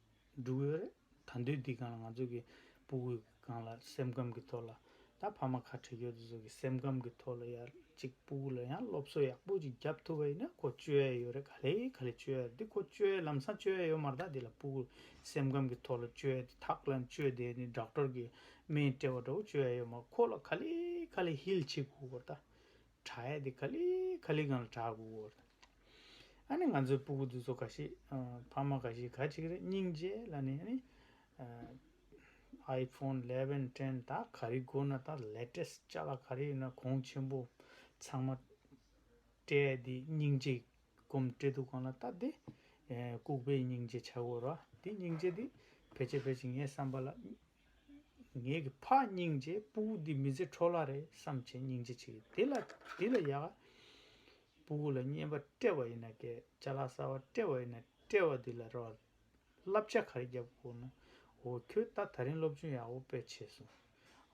[SPEAKER 1] འབྲུག་བོད་རེད་ད་འདོད་དེ་གང་ལ་ང་ཚོ་གི་པུ་གུ་གང་ལ་སེམས་ཁམས་གི་ཐོག་ལ་ད་ཕ་མ་ཁ་ཁྲེ་ཁྱོད་ཚོ་གི་སེམས་ཁམས་གི་ཐོག་ལ་ཡར་ཅིག་པུ་གུ་ལ་ཡང་སློབ་གསོ་ཡག་པོ་ཅིག་རྒྱབ་ཐུབ་པ་ཡིན་ན་ཁོ་བཅོལ་ཡ་ཡོད་རེད་ག་ལེ་ག་ལེ་བཅོལ་ཡ་རེད་དེ་ཁོ་བཅོལ་ཡ་ལམ་སང་བཅོལ་ཡ་ཡོད་མ་རེད་ད་དེ་ལ་པུ་གུ་སེམས་ཁམས་གི་ཐོག་ལ་བཅོལ་ཡ་དེ་ཐག་ལ་བཅོལ་དེ་ནི་སྦྲག་སྤྲོར་གི་སྨན་སྤྲད་པ་འདྲ་བོ་བཅོལ་ཡ་ཡོད་མ་རེད་ཁོ་ལ་ག་ལེ་ག་ལེ་ཧིལ་བྱེད་དགོས་དགོས་རེད་ད་གྲ་ཡ་དེ་ག་ལི་ག་ལི་གང་ལ་གྲགས་དགོས་དགོས་དང། ཨ་ནི་ང་ཚོའི་སྤུ་གུ་དེ་ཚོ་ག་ཤེད་ཕ་མ་ག་ཤེད་ག་ཅིག་རེད་སྙིང་རྗེ་ལ་ནི་ཨ་ནི། iPhone eleven ten ད་ག་རི་དགོས་ན་ད latest ལྕགས་ལ་ག་རི་ཡོད་ན་གོང་ཆེན་པོ་ཚང་མ། སྤྲད་དེ་སྙིང་རྗེ་སྒོམ་སྤྲད་དུ་གང་ལ་ལྟ་དེ། ལྐུག་པའི་སྙིང་རྗེ་བྱ་དགོས་ར་དེ་སྙིང་རྗེ་དེ་ཕལ་ཆེར་ཕལ་ཆེར་ངའི་བསམ་པ་ལ། ངེད་ཀྱི་ཕ་སྙིང་རྗེ་སྤུ་གུ་འདི་མི་ཚེ་འཕྲོ་བརླག་རེད་བསམ་བྱས་སྙིང་རྗེ་ཆེ་གི། འདི་ལ་ཡག། སྤུ་གུ་ལ་བརྙས་པ་སྤྲད་པ་ཡིན་ན་སྐད་ཆ་ལག་གསར་བ་སྤྲད་པ་ཡིན་ན་སྤྲད་བ་འདི་ལ་རོ། བསླབ་བྱ་ག་རེ་རྒྱབ་དགོས་ན། འོ་ཁྱོད་ད་ད་རིང་སློབ་ཆུང་ཡག་པོ་སྤེལ་བྱས་སོང།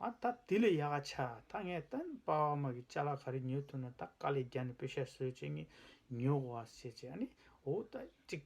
[SPEAKER 1] ཨ་ད་འདི་ལས་ཡག་ག་ཆ་ད་ངས་ད་པ་བ་མ་གི་ལྕ་ལག་ག་རེ་ཉོས་ཐུབ་ན་ད་དཀའ་ལས་རྒྱ་ནས་སྤོས་ཤ་ཟོས་བྱས་ངས་ཉོ་གོ་ཨ་ཟེར་བྱས་ཨ་ནི་འོ་ད་ཅིག།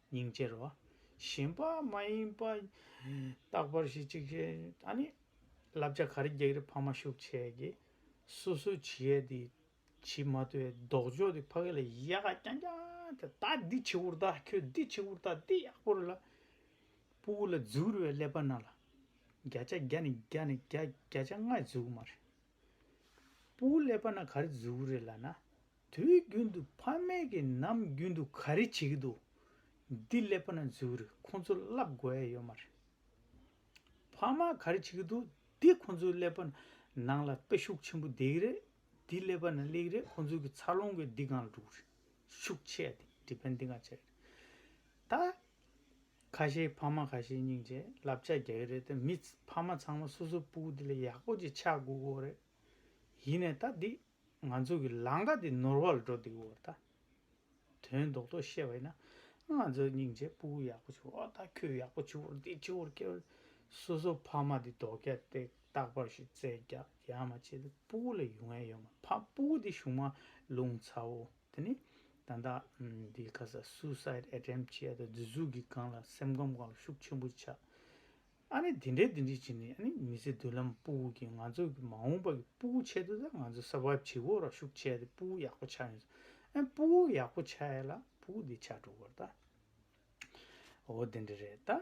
[SPEAKER 1] ཉིང་བཅས་རོ། གཞན་པ་མ་ཡིན་པ། རྟག་པར་ཞི་གཅིག་ཅེས་ཨཱ་ནི། བསླབ་བྱ་གར་རྒྱག་རི་འཕགས་མ་ཤུགས་ཆེ་གི། སོ་སོའི་བྱི་ཡ་དེ་བྱི་མ་དེ་ལྡོག་ཕྱོགས་དེ་ཕ་གི་ལ་ཡ་ག་རྐྱང་རྐྱང་དེ་ད་འདི་བྱི་བུར་ད་ཁྱོད་འདི་བྱི་བུར་ད་འདི་ཡག་པོ་རེད་ལ། སྤུ་བོ་ལ་འཛུལ་བའི་ཀླད་པ་ན་ལ། བརྒྱ་ཆ་བརྒྱ་ནི་བརྒྱ་ནི་བརྒྱ་བརྒྱ་ཆ་ལྔའི་འཛུལ་མ་རེད། སྤུ་གུ་ཀླད་པ་ན་ག་རེ་འཛུལ་གི་རེད་ལ་ན། དུས་རྒྱུན་དུ་ཕ་མེས་ཀྱི་ནམ་རྒྱུན་དུ་ག་རེ་བྱེད་ཀྱི་འདུག་འདི་ཀླད་པ་ན་འཛུལ་གི་རེད་ཁོང་ཚོ་བསླབ་དགོས་ཡས་ཡོད་མ་རེད། ཕ་མ་ག་རེ་བྱེད་ཀྱི་འདུག་འདི་ཁོང་ཚོའི་ཀླད་པ་ནང་ལ་སྟོད་ཤུགས་ཆེན་པོ་བསྡད་ཀྱི་རེད་འདི་ཀླད་པ་ན་སླེབས་ཀྱི་རེད་ཁོང་ཚོའི་གི་འཚར་ལོངས་གི་འདི་གང་ལ་འགྲོ་གི་རེད་ཤུགས་ཆེ་ཡ་འདི Depend འདི་གང་བྱས་ཀྱི་རེད་ད། ཁ་ཤས་ཕ་མ་ཁ་ཤས་སྙིང་རྗེ་ལབ་ཆགས་རྒྱག་གི་རེད་དེ་མི་ཕ་མ་ཚང་མ་སོ་སོའི་སྤུ་གུ་དེ་ལས་ཡག་པོ་ཅིག་ཆགས་དགོས་དགོས་རེད། ཡིན་ནས་ད་འདི་ང་ཚོ་གི་ལང་ཀ་འདི་ནོར་བ་ལ་འགྲོ་འདུག་འོ་ད། དོན་རྡོག་རྡོག་བཤད་པ་ཡིན་ན་ང་ཚོའི་སྙིང་རྗེ་སྤུ་གུ་ཡག་པོ་བྱུང་འོ་ད་ཁྱོད་ཡག་པོ་བྱུང་བར་འདི་བྱུང་བར་ཁྱོད་སོ་སོ་ཕ་མ་འདི་རྡོག་རྒྱ་སྟེགས་རྟག་པར་ཞིག་བཙལ་རྒྱག་ཡ་མ་བྱེད་དེ་སྤུ་གུ་ལ་ཡུ་ངན་ཡོད་མ་ཕམ་སྤུ་གུ་འདི་གཞུག་མ་ལུང་ཚ་བོ། དེ་ནི། ད་ལྟ། འདིའི་ཁ་ས Suicide Attempt བྱས་ཡ་ད་བརྫུས་བརྫུས་ཀྱི་སྒང་ལ་སེམས་ཁམས་སྒང་ལ་ཤུགས་ཆེན་པོ་ཆགས། ཨ་ནི་དེ་འདྲའི་དེ་འདྲའི་བྱས་ནས་ཨ་ནི་མི་ཚེ་མདུན་ལམ་སྤུ་བོ་གི་ང་ཚོ་གི་མ་འོངས་པ་གི་སྤུ་བོ་ཆེད་དུ་ད་ང་ཚོ Survive བྱེད་དགོས་ར་ཤུགས་ཆེ་ཡ་ད་སྤུ་བོ་ཡག་པོ་ཆགས་ཡོང་ཟེར་ཨ་སྤུ་བོ་ཡག་པོ་ཆགས་ཡ་ལ་སྤུ་བོ་འདི་ཆགས་འགྲོ་དགོས་ར་ད། འོ་དེ་འདྲ་རེད་ད།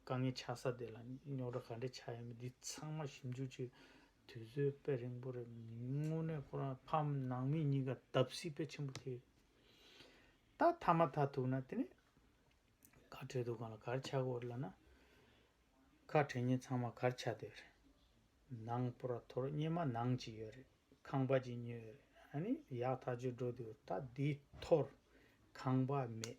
[SPEAKER 1] དཀའ་ངལ་ཆགས་ས་དེ་ལ་རྙོག་དྲ་ག་འདྲས་ཆགས་ཡོད་མེད་འདི་ཚང་མ་ཞིབ་འཇུག་བྱེད་དུས་ཚོད་དཔེ་རིང་པོ་རེད་མི་དངོས་གནས་ཁོ་རང་ཕམ་ནང་མི་གཉིས་ཀ་བརྡབ་གསིག་དཔེ་ཆེན་པོ་ཐེབས་ད་མཐའ་མ་མཐའ་ཐུག་ན་དེ་ནས་གར་བྲལ་འདུག་གང་ལ་གར་ཆགས་དགོས་རེད་ལབ་ན་ཁ་བྲལ་ཉིན་ཚང་མ་གར་ཆགས་བསྡད་རེད་ནང་པོ་ར་ཐོར་སྙེ་མ་ནང་གཅིག་ཡོད་རེད་ཁང་པ་གཅིག་ཉོས་ཡོད་རེད་ཨ་ནི་ཡག་ཐག་ཆོད་འགྲོ་འདུག་ད་འདི་ཐོར་ཁང་པ་མེད།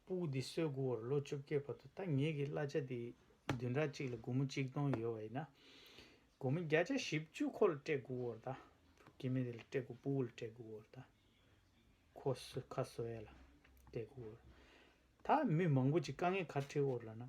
[SPEAKER 1] སྤུག་འདི་སོས་དགུ་བར་ལོ་བཅོ་བརྒྱད་བར་དུ་ད་ངེད་ཀྱི་གླ་ཆ་འདི་བདུན་ཕྲག་གཅིག་ལ་སྒོར་མོ་གཅིག་སྟོང་ཡོད་བ་ཡིན་ན། སྒོར་མོ་བརྒྱ་ཆ་བཞི་བཅུ་ཁོ་ལ་སྤྲད་དགུ་བར་ད། དེ་མིན་འདི་ལ་སྤྲད་དགུ་སྤུག་ལ་སྤྲད་དགུ་བར་ད། ཁོ་སོས་ཁ་སོས་ཡ་ལ་སྤྲད་དགུ་བར། ད་མི་མང་པོ་ཅིག་དཀའ་ངལ་གར་འཁྲིད་བོར་ལ་ན།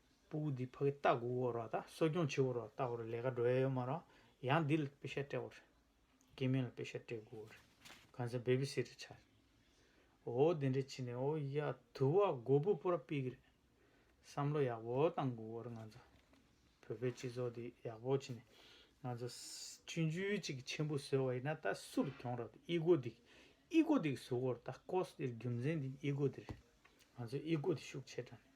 [SPEAKER 1] སྤུ་གུ་འདི་ཕ་གི་སྟག་གུ་བོར་བ་དང་གསོ་སྐྱོང་བྱེད་བོར་བ་ལྟ་བུ་རེད་ལས་ཀ་འགྲོ་ཡ་ཡོད་མ་རང་ཡང་འདི་ལ་དཔེ་ཤ་སྤྲད་བོ་རེད་སྐྱེས་དམན་ལ་དཔེ་ཤ་སྤྲད་དགོས་བོ་རེད་གང་ཚེ་བེབི་སིར་ཆགས་རེད་འོ་དེ་འདྲས་བྱེད་ནས་འོ་ཡ་དུ་བ་མགོ་བུ་པོ་ར་སྤེལ་གི་རེད་བསམ་བློ་ཡག་བོ་བཏང་དགོས་བོ་རེད་ང་ཚོ་བོད་པའི་སྤྱི་ཚོགས་འདི་ཡག་བོ་བྱེད་ནས་ང་ཚོ་མཆུ་མཆུ་གཅིག་གི་ཆེན་པོ་བཟོས་བ་ཡིན་ན་ད་སུ་རུ་གྱོང་ར་དེ་ཨི་གོ་འདི་ཨི་གོ་འདི་གི་བཟོ་བོ་རེད་ད་ཀོ་ས་འདི་རྒྱུ་མཚན་འདི་ཨི་གོ་འདི་རེད་ང་ཚོ་ཨི་གོ་འདི་ཤུགས་ཆེ་དྲགས་ནས།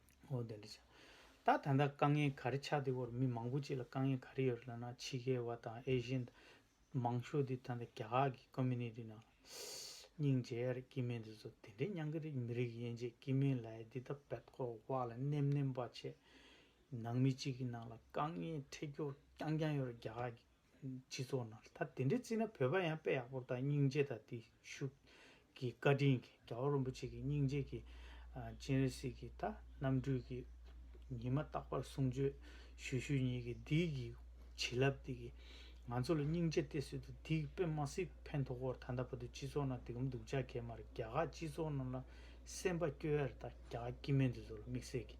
[SPEAKER 1] ཨོ་དེ་འདྲ་བྱ། ད་ད་ལྟ་དཀའ་ངལ་ག་རེ་ཆགས་འདི་བོར་མི་མང་པོ་ཅིག་ལ་དཀའ་ངལ་ག་རེ་ཡོད་རེད་ལབ་ན་ཕྱི་རྒྱལ་བ་དང་ཨེ་ཤེ་ཡན། མང་ཤོས་འདི་ད་ལྟ་རྒྱ་གར་གྱི Community ནང་ལ། སྙིང་རྗེ་ཡར་སྐྱིད་མེད་འདི་ཚོ་དེ་འདྲའི་སྙང་གི་རིགས་མི་རིགས་ཡན་ཆད་སྐྱིད་མེད་ལ་ཡ་འདི་ད་བད་ཀོ་བ་ལ་ནེམ་ནེམ་བ་བྱས། ནང་མི་གཅིག་གི་ནང་ལ་དཀའ་ངལ་འཕྲད་རྒྱུ་རྐྱང་རྐྱང་ཡོད་རེད་རྒྱ་གར་གྱི་སྤྱི་ཚོགས་ནང་ད་དེ་འདྲའི་བརྩིས་ན་བོད་པ་ཡང་དཔེ་ཡག་པོ་དང་སྙིང་རྗེ་དང་བརྟུལ་ཞུགས་ཀྱི་བཀའ་དྲིན་གྱིས་རྒྱ་བོད་རིན་པོ་ཆེ་ཀྱི་སྙིང་རྗེ་ཀྱི་སྤྱན་རས་གཟིགས་ཀྱི་ད་རྣམ་སྤྲུལ་གྱི་ཉི་མ་རྟག་པར་གསུང་ཆོས་ཞུ་ཞུ་ཉིད་ཀྱི་འདི་ཀྱི་བྱིན་རླབས་འདི་ཀྱི་ང་ཚོ་ལ་སྙིང་རྗེ་སྟེར་སྲིད་དུ་འདི་ཀྱི་པདྨ་སིབ་ཕན་ཐོག་བོར་ད་ལྟ་བར་དུ་སྤྱི་ཚོགས་ནང་དེ་གམ་སྡུག་ཅག་གེ་མར་རྒྱ་གར་སྤྱི་ཚོགས་རྣམས་ལ་སེམས་པ་སྐྱོ་ཡར་དང་རྒྱ་གར་སྐྱི་སྨན་དེ་ཚོ་ལ་དམིགས་བསལ་གྱི།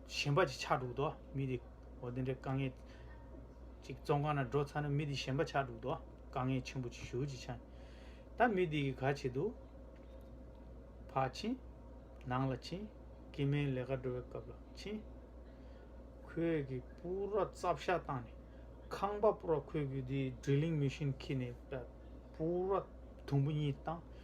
[SPEAKER 1] གཞན་པ་ཅིག་ཆགས་འགྲོ་གདོ་མི་དེ་འོ་དེ་འདྲའི་དཀའ་ངལ་ཅིག་བཙོང་ཁང་ན་འགྲོ་ཚར་ན་མི་དེ་གཞན་པ་ཆགས་འགྲོ་གདོ་དཀའ་ངལ་ཆེན་པོ་ཅིག་ཞུ་ཅིག་ཆགས་ད་མི་དེ་གིས་ག་བྱེད་དུ་བག་ཕྱིན་ནང་ལ་ཕྱིན་དཀྱིལ་མའི་ལས་ཀ་འགྲོ་བའི་སྐབས་ལ་ཕྱིན། ཁོས་གི་སྤུ་ར་རྩབ་བཤགས་བཏང་ནས་ཁང་པ་སྤུ་ར་ཁོས་གི་དེའི Drilling Machine ཁྱེར་ནས་སྤུ་ར་དུམ་བུ་གཉིས་བཏང།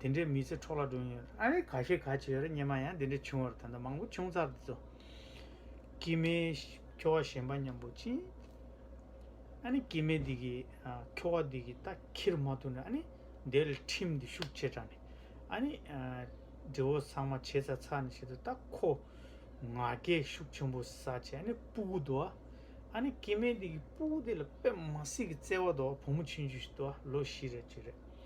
[SPEAKER 1] དེ་འདྲའི་མི་ཚེ་འཕྲོག་བརླག་འགྲོ་ཡི་ཡོད་རེད་ཨ་རེ་ག་ཤེས་ག་བྱེད་རེད་སྙེ་མ་ཡང་དེ་འདྲའི་བྱུང་བར་ད་ལྟ་མང་པོ་བྱུང་ཚར་འདུག་ཚོ། སྐྱིད་མེད་ཁྱོ་བ་ཞན་པ་མཉམ་པོ་ཅི། ཨ་ནི་སྐྱིད་མེད་འདི་གི་ཁྱོ་བ་འདི་གི་ད་ཁྱིར་མ་ཐུག་ན་ཨ་ནི་འདེད་ལ་ཁྲིམས་འདི་ཤུགས་ཆེ་དྲགས་ནས་ཨ་ནི། འདྲེ་བོ་ཚང་མ་བྱེད་ཚར་ཚར་ནས་བྱེད་དུ་ད་ཁོ། ང་རྒྱལ་ཤུགས་ཆེན་པོ་ས་བྱས་ཨ་ནི་སྤུ་གུ་དུ་བ། ཨ་ནི་སྐྱིད་མེད་འདི་གི་སྤུ་གུ་དེ་ལ་པད་མ་སྲིད་ཀྱི་བརྩེ་བ་དུ་བ་བུ་མོ་ཆུང་ཆུང་ཞིག་དུ་བ་ལོ་བཞི་རེ་བཅུ་རེ།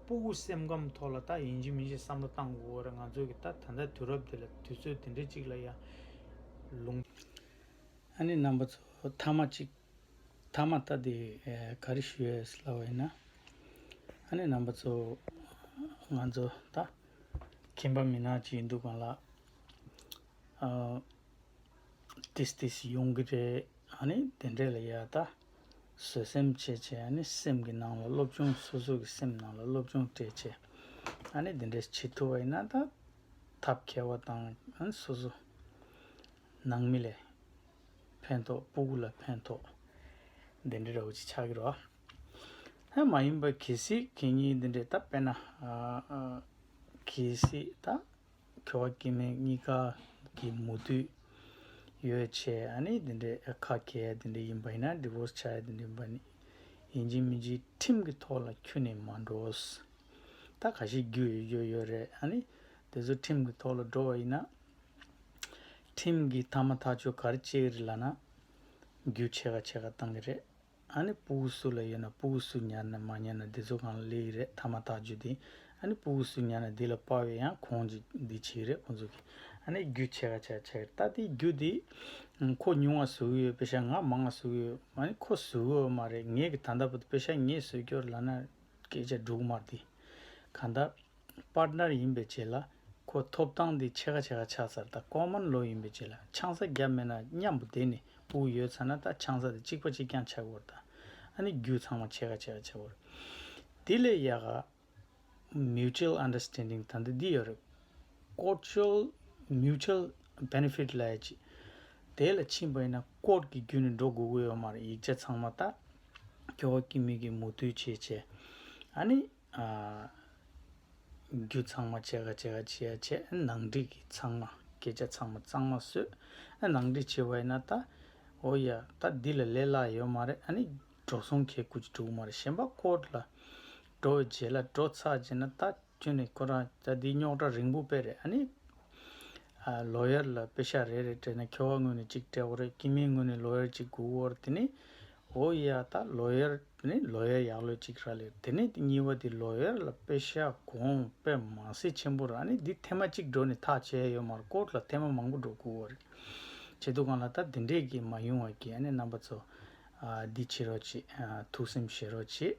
[SPEAKER 1] སྤུ་གུ་སེམས་ཁམས་ཐོག་ལ་ད་ཡིན་གྱི་མིན་ཞེས་བསམ་བློ་བཏང་དགོས་བོད་རེད་ང་ཚོའི་གི་ད་ད་ལྟ་དུས་རབས་འདི་ལ་དུས་ཚོད་འདི་འདྲའི་གཅིག་ལ་ཡང་ལུང། ཨ་ནེ་རྣམ་པ་ཚོ་མཐའ་མ་གཅིག་མཐའ་མ་ལྟ་དེ་ག་རེ་ཞུ་ཡས་སླ་བ་ཡིན་ན། ཨ་ནེ་རྣམ་པ་ཚོ་ང་ཚོ་ད་ཁྱིམ་པ་མི་ནག་ཅིག་འདུག་ག་ལ་ཨ། ཏིས་ཏིས་ཡོང་གི་རེད་ཨ་ནེ་དེ་འདྲས་ལ་ཡ་ད། བཟོད་སེམས་ཆེ་ཆེ་ཡང་ནི་སེམས་ཀྱི་ནང་ལ་སློབ་ཆུང་སོ་སོ་གི་སེམས་ནང་ལ་སློབ་ཆུང་སྤྲད་ཆེ་ཡང་ནི་དེ་འདྲས་བྱེད་ཐུབ་པ་ཡིན་ན་ད་ཐབས་མཁས་བ་དང་ཡང་སོ་སོ་ནང་མི་ལས་ཕན་ཐོག་སྤུ་གུ་ལ་ཕན་ཐོག་དེ་འདྲས་རོགས་ཅིག་ཆགས་ཀྱི་རོགས་ཧ་མ་ཡིན་པ་གལ་སྲིད་ཁྱེད་གཉིས་དེ་འདྲས་ད་དཔེ་ན་གལ་སྲིད་ད། ཁེ་བ་སྐྱེ་མེད་གཉིས་ཀ་གི་མུ་མཐུད་ཡོད་ཆེ་ཨ་ནི་དེ་འདྲའི་ཁ་གལ་དེ་འདྲ་ཡིན་པ་ཡིན་ན Divorce བྱ་ཡ་དེ་འདྲ་ཡིན་པ་ནི་ཡིན་གཅིག་མིན་གཅིག་ཁྲིམས་ཀྱི་ཐོག་ལ་འཁྱུད་ནས་མ་འགྲོས་ད་ག་ཞིག་རྒྱུ་ཡོད་རྒྱུ་ཡོད་རེད་ཨ་ནི་དེ་ཚོ་ཁྲིམས་ཀྱི་ཐོག་ལ་འགྲོ་བ་ཡིན་ན་ཁྲིམས་ཀྱི་ཐ་མ་ཐག་ཆོད་གར་བཅད་རི་ལ་ན་རྒྱུ་ཆེ་ག་ཆེ་ག་གཏང་གི་རེད། ཨ་ནི་སྤུ་གུ་སུ་ལ་ཡོད་ན་སྤུ་གུ་སུ་ཉར་ནས་མ་ཉར་ན་འདི་ཚོ་གང་ལ་ལས་ཡི་རེད་ཐ་མ་དག་བརྗོད་དེ་ཨ་ནི་སྤུ་གུ་སུ་ཉར་ན་འདི་ལ་དཔའ་བའི་ཡང་ཁོང་ཅིག་འདི་བྱེད་ཡི་རེད་ཁོང་ཚོ་གི་ཨ་ནི་རྒྱུ་ཆེ་ག་ཆེ་ཆེ་ད་དེའི་རྒྱུ་དེ་ཁོ་ཉུང་བ་བཟོ་གི་ཡོད་དཔེ་ཤ་ང་མང་བ་བཟོ་གི་ཡོད་མ་ནི་ཁོ་བཟོ་གི་ཡོད་མ་རེད་ངས་གི་ད་ལྟ་བུ་དཔེ་ཤ་ངས་བཟོས་རྒྱུར་ལ་ན་སྐད་ཆ་འབྲུག་དམར་དེ་གང་ད། པར་ནར་ཡིན་པའི་རྗེས་ལ་ཁོ་ཐོབ་ཐང་འདི་ཕྱེད་ཀ་ཕྱེད་ཀ་ཆགས་ཚར་ད་ལྐོག་མར་ལོག་ཡིན་པའི་རྗེས་ལ་ཆང་ས་བརྒྱབ་མེད་ན་སྙམ་པོ་དེ་ནི་དབུགས་ཡོད་ཚར་ན་ད་ཆང་ས་དེ་གཅིག་པ་གཅིག་རྐྱང་ཆགས་དགོས་ད་ཨ་ནི་རྒྱུ་ཚང་མ་ཕྱེད་ཀ་ཕྱེད་ཀ་ཆགས་དགོས་རེད། དེ་ལས་ཡག་ག Mutual Understanding ད་འདི་འདི་ཡོད་རེད་ཀོར་ཅོལ Mutual Benefit ལ་ཡ་ཅི་དེ་ལ་ཕྱིན་པ་ཡིན་ན་ཀོར་གི་རྒྱུ་ནི་འགྲོ་དགོས་ཀི་ཡོད་མ་རེད་ཡིག་ཆ་ཚང་མ་ད་ཀྱོག་གི་མིག་གིས་མུ་མཐུད་བྱས་བྱས་ཨ་ནི། རྒྱུ་ཚང་མ་བྱེད་ཀ་བྱེད་ཀ་བྱེད་ཡ་བྱེད་ནང་འགྲིག་གི་ཚང་མ་སྐད་ཆ་ཚང་མ་གཙང་མ་བཟོས་ནང་འགྲིག་བྱེད་པ་ཡིན་ན་ད་འོ་ཡ་ད་འདི་ལ་ལས་སླ་ཡོད་མ་རེད་ཨ་ནི་འགྲོ་སོང་གས་ཀུ་ཅི་འགྲུག་མ་རེད་གཞན་པ་སྐོར་ལ་འགྲོ་བའི་རྗེས་ལ་འགྲོ་ཚར་རྗེས་ན་ད་ཁྱོད་ནས་ཁོ་རང་ད་འདི་རྙོག་དྲ་རིང་པོ་པས་རེད་ཨ་ནི་ལོ་ཡར་ལ་དཔེ་ཤག་རེ་རེ་སྤྲད་ན་ཁྱོ་བ་དངོས་ནས་གཅིག་སྤྲད་འོ་རེད་ཀྱི་མིང་དངོས་ནས་ལོ་ཡར་གཅིག་དགུ་འོ་རེད་དེ་ནས་འོ་ཡ་ད་ལོ་ཡར་དེ་ནས་ལོ་ཡར་ཡག་ལོས་གཅིག་ར་ལེར་དེ་ནས་དེ་གཉིས་བ་དེ་ལོ་ཡར་ལ་དཔེ་ཤག་གོང་དཔེ་མ་སེ་ཆེན་པོ་ར་ནས་འདི་ཐེ་མ་གཅིག་འགྲོ་ནས་ཐག་བཅད་ཡོད་མར་ཀོར་ལ་ཐེ་མ་མང་པོ་འགྲོ་དགུ་འོ་རེད་བྱེད་དུ་གང་ལ་ད་དེ་འདྲས་ཀྱི་མ་ཡུང་བ་ཀྱི་ཨ་ནེ་རྣམ་པ་ཚོ་འདི་བྱེད་རོགས་བྱེད་ཐུགས་སེམས་བཞེས་རོགས་བྱེད།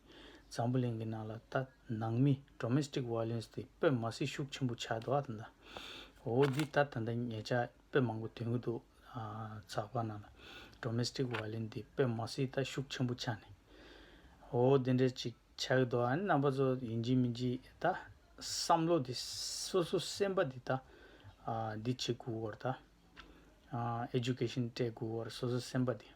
[SPEAKER 1] འཛམ་བུ་གླིང་གི་ནང་ལ་ལྟ་ནང་མི Domestic Violence དེ་དཔེ་མ་སྲིད་ཤུགས་ཆེན་པོ་ཆགས་འདུག་ཨ་ད་ལྟ་འོ་འདི་ལྟར་ད་ལྟ་ངེད་ཅག་དཔེ་མང་པོ་འདོན་གྱི་འདུག་ཚགས་པར་ནང་ལ Domestic Violence དེ་དཔེ་མ་སྲིད་ལྟ་ཤུགས་ཆེན་པོ་ཆགས་ནས་འོ་འདི་འདྲ་ཅིག་ཆགས་ཀྱི་འདུག་ཨ་ནི་རྣམ་པ་ཚོ་ཡིན་གྱི་མིན་གྱི་ད་བསམ་བློ་དེ་སོ་སོ་སེམས་པ་དེ་ད་འདི་བྱེད་དགོས་བར་ད Education སྤྲད་དགོས་བར་སོ་སོ་སེམས་པ་དེ།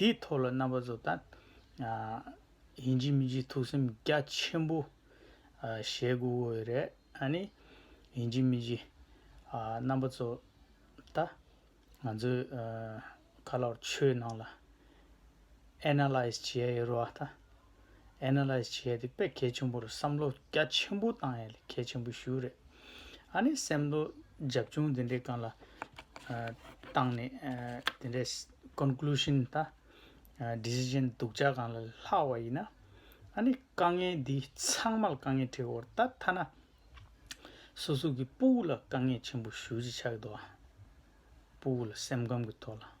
[SPEAKER 1] དེའི་ཐོག་ལ་རྣམ་པ་གཟོ་ད། ཡིན་གྱི་མིན་གྱི་ཐུགས་སེམས་རྒྱ་ཆེན་པོ། བཞེས་དགོས་དགོས་པའི་རེད་ཨ་ནི། ཡིན་གྱི་མིན་གྱི། རྣམ་པ་གཟོ་ད། ང་ཚོའི། ཁ་ལག་ཆོས་ནང་ལ། Analyze། བྱེད་ཡོད་རུང་བ་ད། Analyze། བྱས་ཏེ་དཔེ་གལ་ཆེན་པོར་བསམ་བློ་རྒྱ་ཆེན་པོ་བཏང་ཡས་ལས་གལ་ཆེན་པོ་ཞུ་རེད། ཨ་ནི་སེམས་བློ་རྒྱབ་ཆུང་དེ་འདྲའི་གང་ལ་བཏང་ནས་དེ་འདྲའི Conclusion ད Decision སྡུག་ཅག་གང་ལ་ལྷག་བ་ཡིན་ན། ཨ་ནི་དཀའ་ངལ་འདི་ཚང་མ་ལ་དཀའ་ངལ་ཁྲེ་འོར་ད་ཐ་ན། སོ་སོ་གི་སྤུ་བོ་ལ་དཀའ་ངལ་ཆེན་པོ་ཞུ་ཅི་ཆགས་འདུག་ཨ། སྤུ་བོ་ལ་སེམས་ཁམས་གི་ཐོག་ལ།